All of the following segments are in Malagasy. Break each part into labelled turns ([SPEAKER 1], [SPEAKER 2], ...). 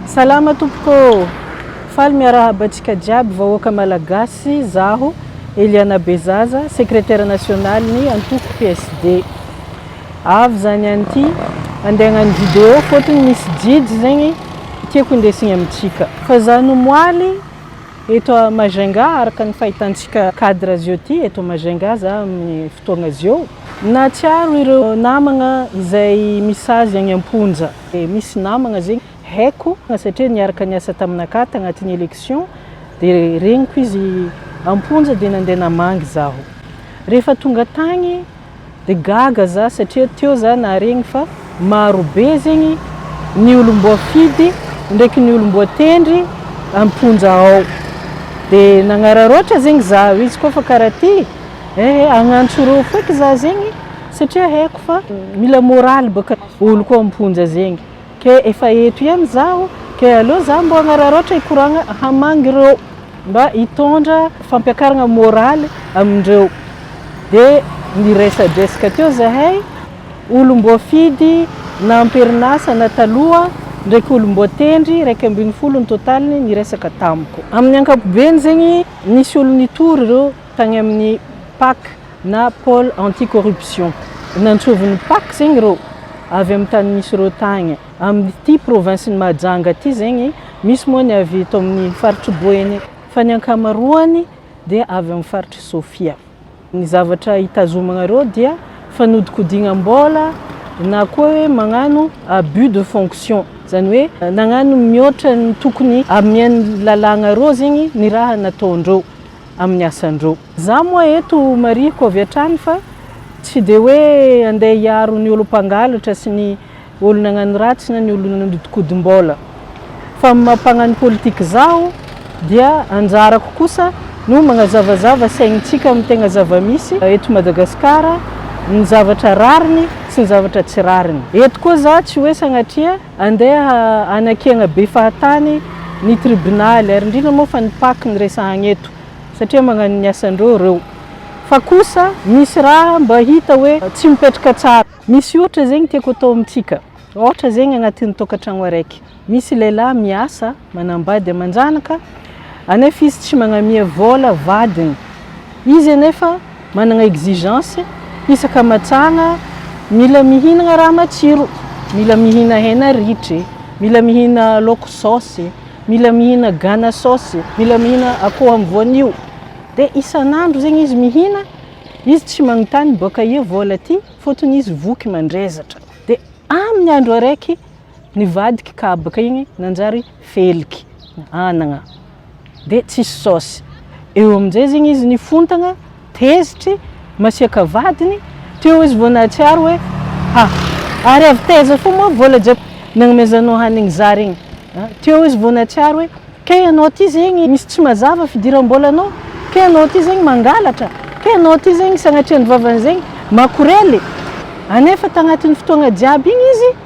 [SPEAKER 1] Salama tompoko ô! Faly miarahaba antsika jiaby vahoaka Malagasy zaho Eliana Bezaza Secretaire National ny antoko PSD. Avy zany any ty andeha agnano video fotony misy jijy zegny tiako hindesigny amintsika. Fa za no moaly eto à Majunga araka ny fahitantsika cadre zio ty eto Majunga za aminy fotoagna zio. Nahatsiaro ireo namagna izay misazy agny amponja. dia misy namagna zegny haiko satria niaraka niasa taminakah tagnatin'ny election dia regniko izy amponja dia nandeha namangy zaho rehefa tonga tagny dia gaga za satria teo za naharegny fa marobe zegny ny olom-boafidy ndraiky ny olom-boatendry amponja ao dia nagnararaotra zegny za izy koa fa karaha ty ehe agnantso reo feky za zegny satria haiko fa mila moraly baka Oloko amponja zegny. Ke efa eto ihany zaho ke aleo za mbo agnararaotra hikoragna hamagny ireo mba hitondra fampiakaragna moraly amindreo de niresadresaka teo zahay olo mbo fidy na amperinasa na taloha ndraiky olo mbo tendry raika ambin'ny folo ny totaliny niresaka tamiko. Amin'ny ankapobeny zegny nisy olo nitory ireo tany amin'ny pac na pole anti corruption nantsovin'ny pac zegny reo avy amin'ny tany misy ireo tagny amin'ity province ny Mahajanga ity zegny misy moa ny avy eto amin'ny faritry Boeny fa ny ankamaroany dia avy amin'ny faritry Sofia ny zavatra hitazomanareo dia fanodikodignam-bola na koa hoe magnano abus de fonction zany hoe nagnano mihoatra ny tokony amian'ny lalagna reo zegny ny raha nataondreo amin'ny asan-dro. Za moa eto marihiko avy hatrany fa tsy dia hoe andeha hiaro ny olom-pangalatra sy ny olo-nagnano ratsy na ny olo-nanodinkodimbola. Fa amin'ny maha mpagnano politika zaho dia anjarako kosa no magnazavazava saignintsika amin'ny tegna zava-misy eto Madagasikara, ny zavatra rariny sy ny zavatra tsy rariny. Eto koa za tsy hoe sagnatria Andeha hanakena be fahatany ny tribonaly ary indrindra moa fa ny pac no resahagna eto satria magnano ny asandreo ireo fa kosa misy raha mba hita hoe tsy mipetraka tsara. Misy ohatra zegny tiako atao amintsika, ohatra zegny agnatin'ny tokantragno araiky misy lehilahy miasa, Manambady aman-janaka anefa izy tsy magnamia vola vadiny. Izy anefa managna exigence isaka matsagna mila mihinagna raha matsiro, mila mihina hena ritry, mila mihina laoko saosy, mila mihina gana saosy, mila mihina akoho amin'ny voanio. Dia isan'andro zegny izy mihina, izy tsy magnontany boaka aia vola ty fotony izy voky mandrezatra. Dia amin'ny andro araiky. nivadika kabaka igny nanjary feliky anagna de tsisy saosy eo amizay zegny izy nifontagna tezitry masiaka vadiny teo izy vao nahatsiaro hoe ha ary avy taiza fo moa vola jiaby nagnomezanao hanigny za regny a teo izy vao nahatsiaro hoe kay anao ty zegny misy tsy mazava fidirambolanao kay anao ty zegny mangalatra kay anao ty zegny sagnatria ny vavany zegny makorely anefa tagnatiny fotoagna jiaby igny izy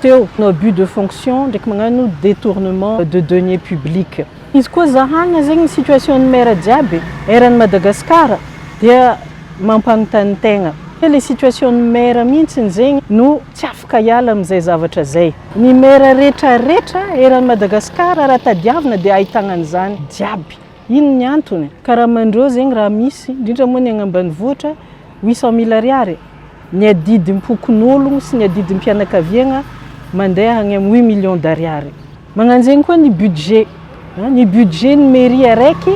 [SPEAKER 1] teo no abus de fonction ndraiky magnano detournement de deniers publics. Izy koa zahagna zegny ny situation ny maire jiaby eran'i Madagascar dia mampanontany tegna hoe le situation ny maire mihintsiny zegny no tsy afaka hiala amin'izay zavatra zay. Ny maire retraretra eran'i Madagascar raha tadiavina dia ahitagna an'izany jiaby. Ino ny antony? Karaman'ireo zegny raha misy, indrindra moa ny agny ambanivohitra, huit cent mille ariary e! Ny adidim-pokonologno sy ny adidim-pianakaviagna mandeha agny am huit millions d'ariary. Magnan'zegny koa ny budget, an, ny budget ny mairie araiky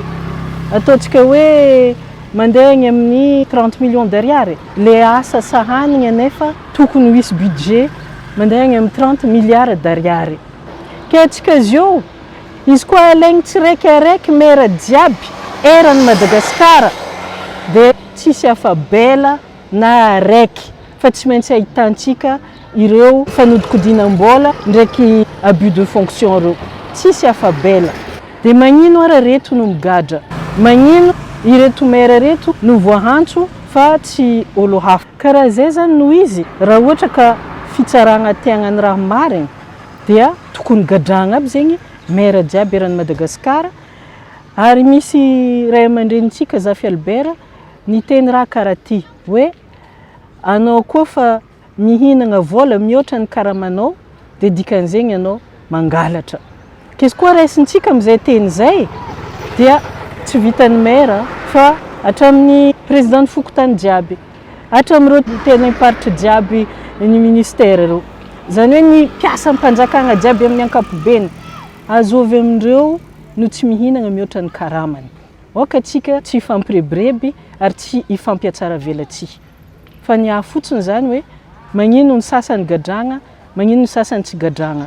[SPEAKER 1] ataontsika hoe mandeha agny amin'ny trente millions d'ariary e! Le asa sahanigna nefa tokony ho hisy budget mandeha agny am trente milliards d'ariary. Ke atsika zio. Izy koa alaigny tsirekarek mera jiaby eran Madagascar de tsisy afa bela na araiky fa tsy maintsy ahitantsika ireo fanodikodinam bola ndraiky abus de fonction reo tsisy afa bela de magnino ara reto no migadra magnino ireto mera reto no voahantso fa tsy olo hafa karaha zay zany no izy raha ohatra ka fitsaragna tiagnany raha marigny. Dia tokony gadrahagna aby zegny maire jiaby eran'i Madagascar, ary misy ray aman-drenintsika Zafy Albert niteny raha karaha ty hoe anao koa fa mihinagna vôla mihoatra ny karamanao dia dikan'izegny anao mangalatra, k'izy koa raisintsika amizay teny zay dia tsy vitan'ny maire fa hatramin'ny président ny fokontany jiaby. Hatramin'ireo teny am-paritry jiaby ny ministera ireo. Izany hoe ny mpiasam-panjakana jiaby amin'ny ankapobeny. Azo avy amin'ireo no tsy mihinana mihoatra ny karamany. Aoka tsika tsy hifampirebireby ary tsy hifampiatsara velatsihy. Fa ny ahy fotsiny izany hoe magnino ny sasany gadragna, magnino ny sasany tsy gadragna.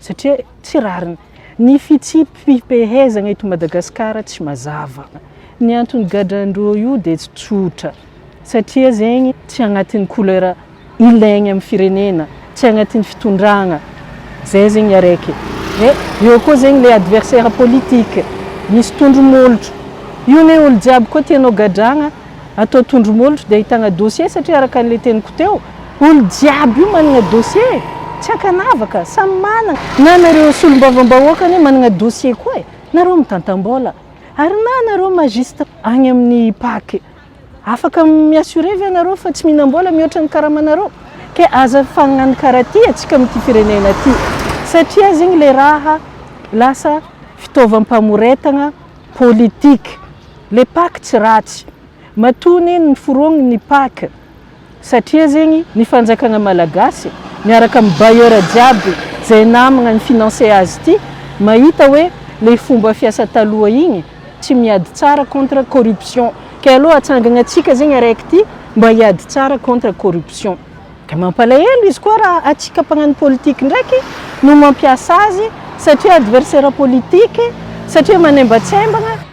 [SPEAKER 1] Satria tsy rariny. Ny fitsipi-pehezana eto Madagasikara tsy mazava. Ny antony gadran-dro io dia tsy tsotra. Satria zegny tsy agnatin'ny couleur ilaigny amin'ny firenena, tsy agnatin'ny fitondragna. Zay zegny araiky. Dia eo koa zegny le adversaire politique. Misy tondro-molotro. Io anie olo jiaby koa tianao gadragna, atao tondro-molotro dia ahitagna dossier satria araka an'le teniko teo, Olo jiaby io managna dossier e! Tsy ankanavaka, samy managna. Na nareo solombavambahoaka anie managna dossier koa e! Nareo mitantambola. Ary na nareo magistrat agny amin'ny pac, afaka mi assurer ve nareo fa tsy mihinambola mihoatra ny karamanareo? Ke aza fagnano karaha ty atsika amin'ity firenena ty. Satria zegny le raha lasa fitaovam-pamoretagna politique. Le pac tsy ratsy. Matoa anie niforogny ny pac, Satria zegny ny fanjakagna malagasy miaraka am bailleur jiaby zay namagna ny financer azy ty mahita hoe le fomba fiasa taloha igny tsy miady tsara contre corruption kay alou atsangagna tsika zegny araiky ty mba hiady tsara contre corruption de mampalahelo izy koa raha atsika mpagnano politique ndraiky no mampiasa azy satria adversaire politique satria manembatsembagna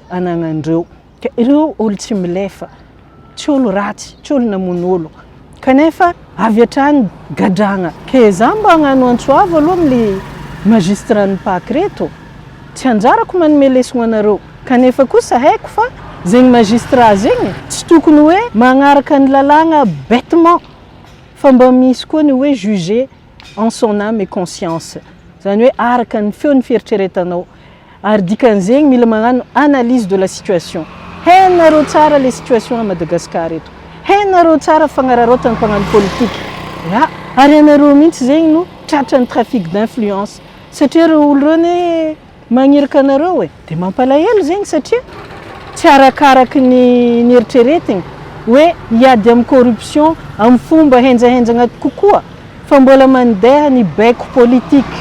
[SPEAKER 1] anagnan'ireo. Ka ireo olon-tsy milefa, tsy olon-ratsy, tsy olon-namono olo. Kanefa avy hatrany gadragna. Ke za mba agnano antso avo aloha amle magistrat ny pac reto, tsy anjarako manome lesogno anareo, kanefa kosa haiko fa zegny magistrat zegny tsy tokony hoe magnaraka ny lalàgna bêtement, fa mba misy koa ny hoe juger. en son âme et conscience izany hoe araka ny feon'ny fieritreretanao ary dikan'izegny mila magnano analyse de la situation hainareo tsara le situation à Madagascar eto hainareo tsara fagnararaotan'ny mpagnano politique ya ary ianareo mihitsy zegny no tratran'ny trafic d'influence satria reo olo reo anie Magniraka anareo e! Dia mampalahelo zegny satria tsy arakaraky ny nieritreretigny hoe hiady amin'ny corruption amin'ny fomba henjahenjagna kokoa fa mbola mandeha ny baiko politique.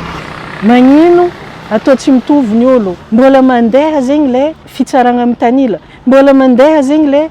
[SPEAKER 1] Magnino atao tsy mitovy ny olo? Mbola mandeha zegny le fitsaragna mitanila? Mbola mandeha zegny le.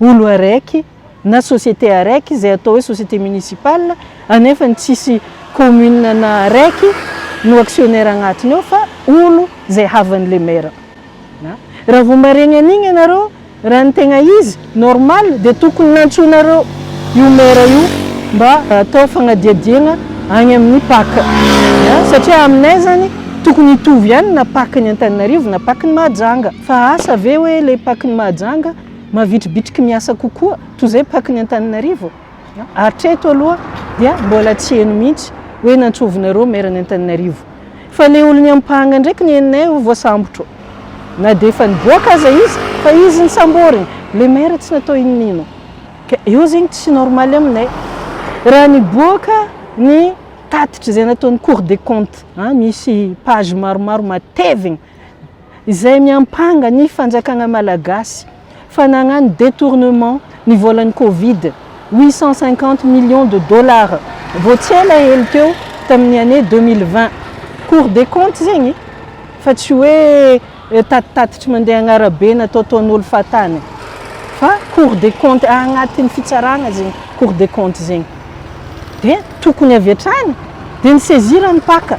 [SPEAKER 1] Olo araiky na société araiky izay atao hoe société municipale anefa ny tsisy commune na araiky no actionnaire agnatiny ao fa olo izay havany le maire na raha vao maregny an'igny ianareo raha ny tegna izy normal dia tokony nantsoinareo io maire io mba atao fagnadiadiagna agny amin'ny pac na satria aminay zany tokony hitovy ihany na pac ny Antananarivo na pac ny Mahajanga fa asa ve hoe le pac ny Mahajanga mavitribitriky miasa kokoa toy izay pac ny Antananarivo hatreto aloha dia mbola tsy heno mihitsy hoe nantsovinareo maire ny Antananarivo fa le olon'ny ampanga ndraiky ny henonay ho voasambotro na dia efa niboaka aza izy fa izy ny samborina le maire tsy natao inonino ka eo zegny tsy normal aminay raha niboaka ny tatitra izay nataon'ny cour des comptes an misy page maromaro matevigny izay miampanga ny fanjakana malagasy fa nagnano detournement ny volan'ny covid huit cent cinquante millions de dollars vao tsy ela hely teo tamin'ny année deux mille vingt cour des comptes zegny fa tsy hoe tatitatitry mandeha agnarabe na taotaon'olo fahatany fa cour des comptes agnatiny fitsarana zegny cour des comptes zegny dia tokony avy hatrany dia ny sezira ny mpaka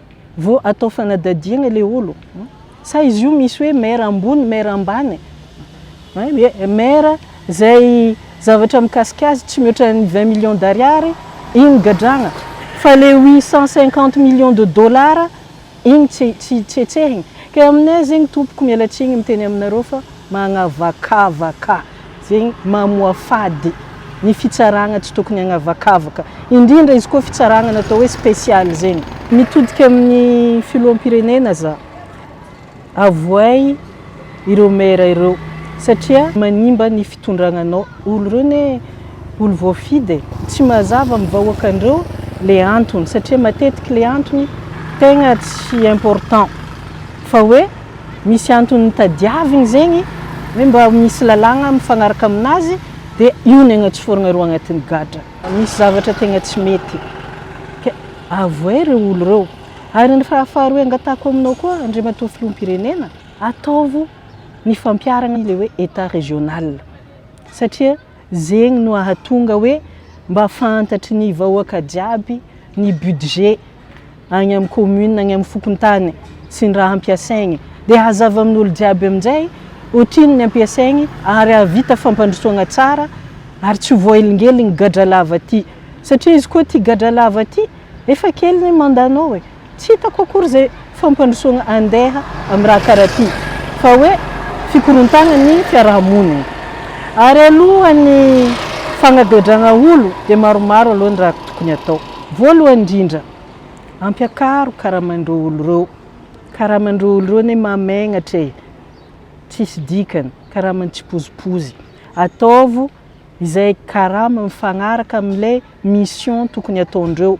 [SPEAKER 1] Vo atao fanadadiana ilay olo. Sa izy io misy hoe maire ambony, maire ambany? Maire izay zavatra mikasika azy tsy mihoatra ny vingt millions d'ariary, iny gadrana. Fa ilay huit cent cinquante millions de dollars, iny tsy tsy hetsehina. Ka aminay zegny tompoko miala tsiny miteny aminareo fa magnavakavaka. Zegny mamoafady ny fitsaragna tsy tokony agnavakavaka, indrindra izy koa fitsaragna natao hoe special zegny. Mitodika amin'ny filoham-pirenena za, avohay ireo maire ireo satria manimba ny fitondragnanao, olo reo ne olo voafidy e, tsy mazava amin'ny vahoakandreo le antony satria matetiky le antony tegna tsy important fa hoe, misy antony tadiaviny zegny hoe mba misy lalàgna mifagnaraka aminazy de io ny agnatsofoiragna reo agnatin'ny gadra. Misy zavatra tegna tsy mety ka avoay reo olo reo. Ary ny raha faharoe angatahako aminao koa Andriamatoa Filoham-pirenena, ataovo ny fampiharagna le hoe Etat régional satria zegny no ahatonga hoe mba fantatry ny vahoaka jiaby ny budget, agny amin'ny commune, agny amin'ny fokontany sy ny raha hampiasaigny. Dia hazava amin'olo jiaby amin'izay ohatrinona ny hampiasaigny ary hahavita fampandrosoagna tsara ary tsy ho voahelingeligny gadra lava ty. Satria izy koa ty gadra lava ty, efa kely ny mandat-nao e. Tsy hitako akory izay. fampandrosoana andeha amin'ny raha karaha ity fa hoe fikorontanan'ny fiaraha-monina. Ary alohan'ny fagnagedrana olo dia maromaro aloha ny raha tokony atao. Voalohany indrindra, ampiakaro karaman'ireo olo ireo. Karaman'ireo olo ireo anie mamegnatra e! Tsisy dikany, karaman'ny tsipozipozy. Ataovo. izay karama mifagnaraka amle mission tokony ataondreo,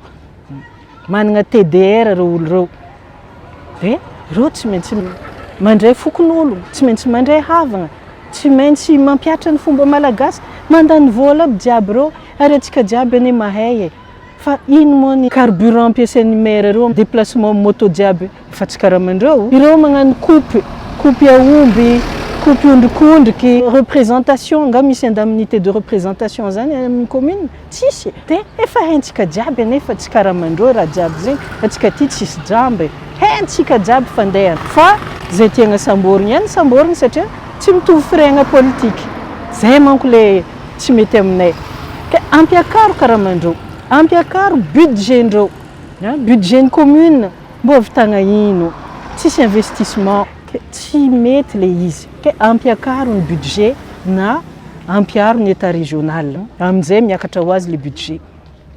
[SPEAKER 1] managna TDR reo olo reo, de reo tsy maintsy mandray fokonolona, tsy maintsy mandray havagna, tsy maintsy mampiatra ny fomba malagasy, mandany vola aby jiaby reo, ary atsika jiaby anie mahay e. Fa inn moa ny carburant ampiasain'ny maire ireo am deplacement moto jiaby efa tsy karaman'ireo? Ireo magnano coupe, coupe aomby, coupe ondrikondriky, représentation angaha misy indemnité de représentation zany any amin'ny commune? Tsisy e! De efa haintsika jiaby anefa tsy karaman'ireo raha jiaby zegny, antsika aty tsisy jamba e! Haintsika jiaby fandehany fa zay tiagna samborigny ihany samborigny satria tsy mitovy firegnagna politique. Zay manko le. tsy mety aminay ka ampiakaro karamandreo, ampiakaro budget ndreo, budget ny commune mbo havitagna ino, tsisy investissement ka tsy mety le izy ka ampiakaro ny budget na ampiaro ny etat régional aminjay miakatra ho azy le budget,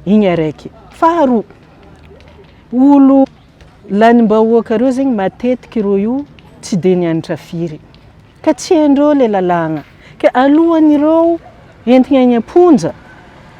[SPEAKER 1] igny araiky, faharoa olo lanimbahoaka reo zegny matetiky reo io tsy de nianatra firy, Ka tsy hain'ireo ilay lalàna. Ka alohan'ireo entina eny am-ponja,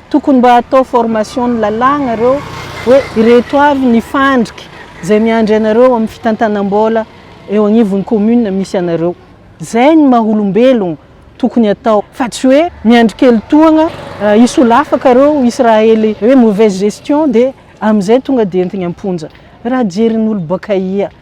[SPEAKER 1] tokony mba atao formation ny lalàna ireo hoe ireto avy ny fandrika izay miandry anareo amin'ny fitantanam-bola eo agnivon'ny commune misy anareo. Izay ny maha olombelogno tokony atao fa tsy hoe miandry kely tohagna hisolafaka ireo hisy raha hely hoe mauvaise gestion dia amin'izay tonga dia entina am-ponja. Raha jerin'olo bakaia.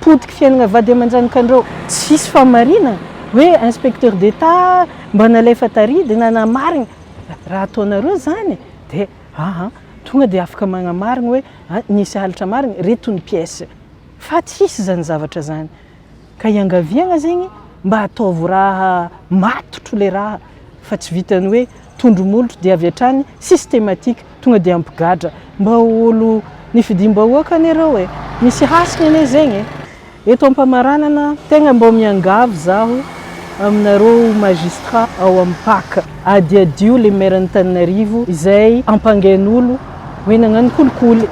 [SPEAKER 1] Potiky fiainagna vady aman-janakandreo. Tsy hisy fahamarina hoe inspecteur d'Etat mba nalefa tary dia nanamarigny. Raha ataonareo izany dia aa tonga dia afaka magnamarigny hoe nisy halatra marigny, reto ny pièces. Fa tsy hisy izany zavatra izany. Ka iangaviagna zegny mba ataovy raha matotro le raha fa tsy vitan'ny hoe tondro molotro dia avy hatrany systematique. Tonga dia mpigadra. Mba ho olo nifidiam-bahoaka anie ireo e! Misy hasiny anie zegny e! Eto ampamaranana tegna mbô miangavy zaho aminareo magistrat ao am pac, adiadio le maire an'Antananarivo izay ampangain'olo hoe nagnano kolikoly,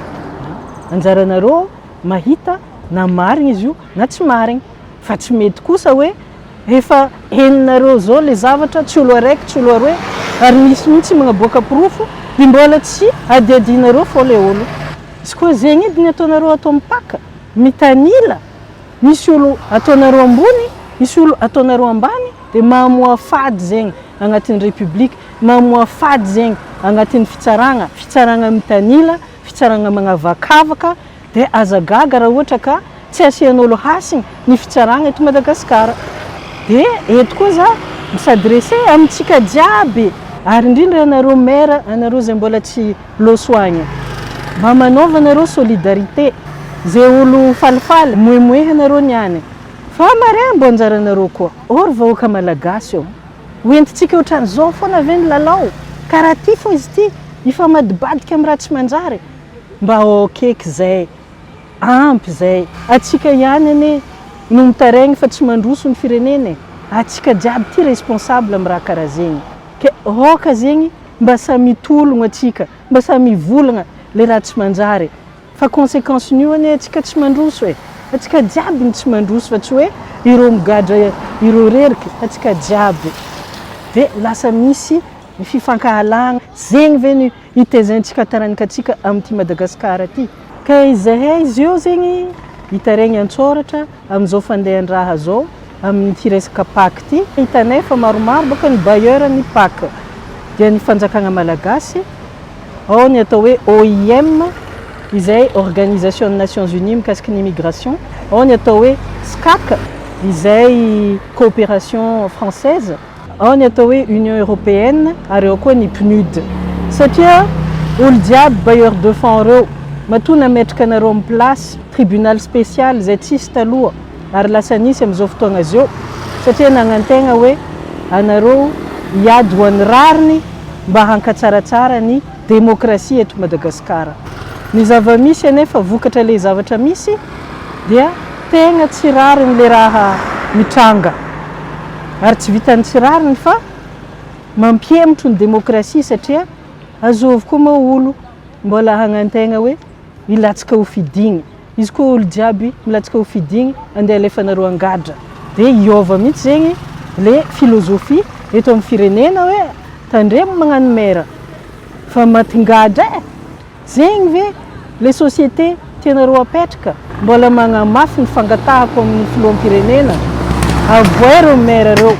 [SPEAKER 1] anjaranareo mahita na marigny izy io na tsy marigny fa tsy mety kosa hoe Efa henonareo zao le zavatra, tsy olo araiky, tsy olo aroe, ary misy mihitsy magnaboaka porofo, de mbola tsy adiadinareo fô le olo. Izy koa zegny edy ny ataonareo ato mpaka, mitanila, misy olo ataonareo ambony, misy olo ataonareo ambany, de mamoha fady zegny agnatin'ny République, mamoha fady zegny agnatin'ny fitsaragna, fitsaragna mitanila, fitsaragna magnavakavaka, Dia aza gaga raha ohatra ka tsy asian'olo hasiny ny fitsarana eto Madagasikara. Dia eto koa za mi s'adresser amintsika jiaby ary indrindra anareo maire anareo izay mbola tsy loso agny. Mba manaova nareo solidarité zay olo falifaly moemoehanareo ny any fa mare mbo anjaranareo koa. Ô ry vahoaka malagasy ô! Ho entintsika otran'izao foana ve ny lalao? Ka raha ty fô izy ty hifamadibadika am raha tsy manjary Mba ok eky zay. Ampy zay. Atsika ihany anie no mitaregny fa tsy mandroso ny firenena e. Atsika jiaby ty responsable am raha karaha zegny. Ke ok zegny mba samy mitologno atsika, mba samy mivolagna le raha tsy manjary. Fa consequence nio anie atsika tsy mandroso e. Atsika jiaby no tsy mandroso fa tsy hoe ireo migadra ireo rerky. Atsika jiaby. Ve lasa misy ny fifankahalagna zegny ve ny. Itezaintsika taranaka tsika amin'ity Madagascar ty. Ka izahay izy eo zegny hitaregny antsoratra amin'izao fandehan-draha zao amin'ity resaka pac ty. Hitanay fa maromaro baka ny bailleur ny pac dia ny fanjakagna malagasy ao ny atao hoe OIM izay organisation ny nations unies mikasiky ny immigration, ao ny atao hoe SCAC izay coopération française. Ao ny atao hoe Union Européenne ary ao koa ny PNUD. Satria olo jiaby bailleurs de fonds reo. Matoa nametraka anareo am place tribunal special zay tsisy taloha ary lasa nisy am zao fotoagna zeo satria nagnantegna hoe anareo hiady ho any rariny mba hankatsaratsara ny demokrasia eto Madagasikara. Ny zava-misy anefa vokatra ilay zavatra misy dia tegna tsy rariny ilay raha mitranga. Ary tsy vitan'ny tsy rariny fa mampihemotro ny demokrasia satria azo avokoa moa olo mbola hagnan-tegna hoe hilatsaka ho fidigny. Izy koa olo jiaby milatsaka ho fidigny andeha alefanareo angadra. Dia hiova mihitsy zegny le philosophie eto am firenena hoe tandremo magnano maire fa matingadra e! Zegny ve le société tianareo apetraka? Mbola magnamafy ny fangatahako aminy filoham pirenena avoay reo maire reo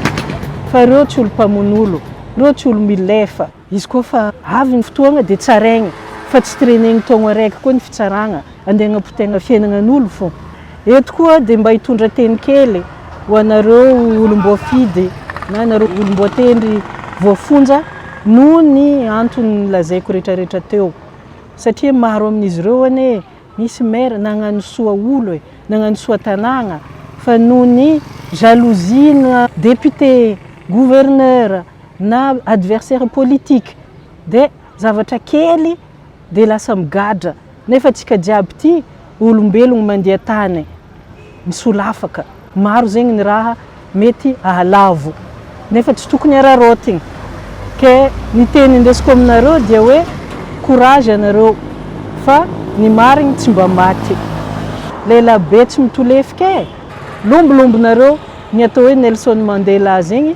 [SPEAKER 1] fa reo tsy olo mpamono olo, reo tsy olo milefa. Izy koa fa avy ny fotoagna de tsaraigna fa tsy trenegny taogno araiky koa ny fitsaragna, andeha agnapotegna fiainagnan'olo fô. Eto koa de mba hitondra teny kely ho anareo olom-boafidy na anareo olom-boatendry voafonja noho ny antony nolazaiko retraretra teo, satria maro amin'izy ireo anie misy maire nagnano soa olo e, nagnano soa tanàgna fa noho ny jalousie-na député, gouverneur, na adversaire politique de zavatra kely de lasa migadra nefa antsika jiaby ty olombelogno mandia tany misolafaka maro zegny ny raha mety ahalavo nefa tsy tokony araraotigny ke ny teny indesiko aminareo dia hoe courage anareo fa ny marigny tsy mba maty leilabe tsy mitolefika e lombolombo nareo ny atao hoe Nelson Mandela zegny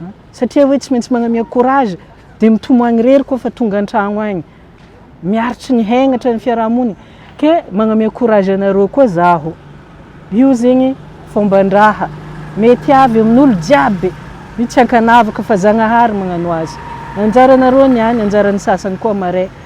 [SPEAKER 1] an! satria hoe tsy maintsy magnamia courage dia mitomo agny rery koa fa tonga antragno agny, miaritry ny haignatra ny fiaraha-monigny, ke magnamia courage anareo koa zaho, io zegny fomban-draha mety avy amin'olo jiaby, io tsy ankanavaka fa Zagnahary magnano azy, anjaranareo ny any anjaran'ny sasany koa marais.